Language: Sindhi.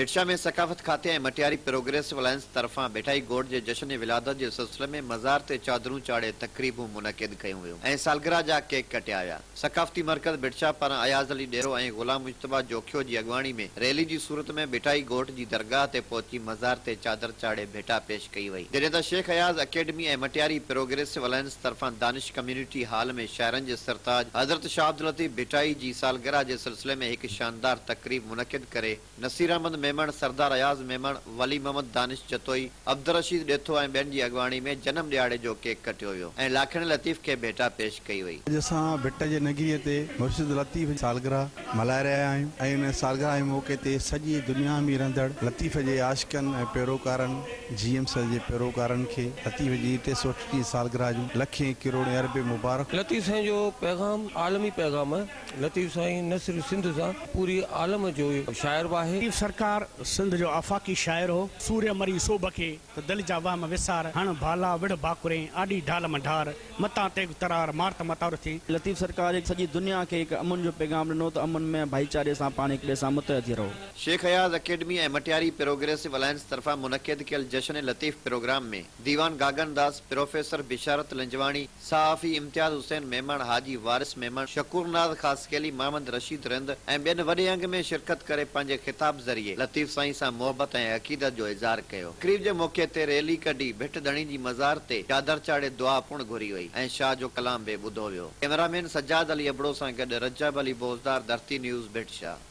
ڀٽشاهه ۾ ثقافت کاتي ۽ مٽياري پروگريسو الائنس طرفان ڀٽائي گوٺ جي جشن ولادت جي سلسلي ۾ مزار تي چادرون چاڙهي تقريبون منعقد ڪيون ويون ۽ سالگرهه جا ڪيڪ ڪٽيا ويا. ثقافتي مرڪز ڀٽشاهه پاران اياز علي ڏيرو ۽ غلام مجتبيٰ جوکيو جي اڳواڻي ۾ ريلي جي صورت ۾ ڀٽائي گوٺ جي درگاهه تي پهچي مزار تي چادر چاڙهي ڀيٽا پيش ڪئي وئي جڏهن ته Shaikh Ayaz academy ۽ Matiari progressive alliance طرفان دانش ڪميونٽي هال ۾ شاعرن جي سرتاج حضرت شاهه عبداللطيف ڀٽائي جي سالگرهه جي سلسلي ۾ هڪ شاندار تقريب منعقد ڪري نصير احمد ميمڻ، سردار اياز ميمڻ، ولي محمد دانش جتوئي، عبدالرشيد ڏيٿو ۽ ٻين جي اڳواڻي ۾ جنم ڏهاڙي جو ڪيڪ ڪٽيو ويو ۽ لاکڻي لطيف کي ڀيٽا پيش ڪئي وئي. اڄ اسان ڀٽ جي نگريء تي مرشد لطيف جي سالگرهه ملهائي رهيا آهيون ۽ ان سالگرهه جي موقعي تي سڄي دنيا ۾ رهندڙ لطيف جي عاشقن ۽ پيروڪارن جي ايم سر جي پيروڪارن کي لطيف جي ٽي سؤ اٺٽيهين سالگرهه جون لکين ڪروڙين اربين مبارڪون. لطيف سائين جو پيغام عالمي پيغام آهي. لطيف سائين نه صرف سنڌ سان پوري عالم جو شاعر به آهي. لطيف سرڪار سنڌ جو آفاقي شاعر هو. سوريا مري سوڀ کي. ته دل جا وهم وسار. هڻ ڀالا وڙهه ڀاڪرين، آڏي ڍال مان ڍار. متان تيغ ترار، مار ته ماتار ٿي. لطيف سرڪار هڪ سڄي دنيا کي هڪ امن جو پيغام ڏنو ته امن ۾ ڀائيچاري سان پاڻ هڪ ٻئي سان متحد ٿي رهو. Shaikh Ayaz academy ۽ Matiari progressive alliance طرفان منعقد ڪيل جشن لطيف پروگرام ۾ ديوان گاگن داس، پروفيسر بشارت لنجواڻي، صحافي امتياز حسين ميمڻ، حاجي وارث ميمڻ، شڪور ناز خاصخيلي، محمد رشيد رند ۽ ٻين وڏي انگ ۾ شرڪت ڪري پنهنجي خطاب ذريعي لطيف سائين سان محبت ۽ عقيدت جو اظهار ڪيو. تقريب جي موقعي تي ريلي ڪڍي ڀٽ ڌڻي جي مزار تي چادر چاڙهي دعا پڻ گهري وئي ۽ شاهه جو ڪلام به ٻڌو ويو. ڪئميرا مين سجاد علي ابڙو سان گڏ رجب علي بوزدار، ڌرتي نيوز، ڀٽ شاهه.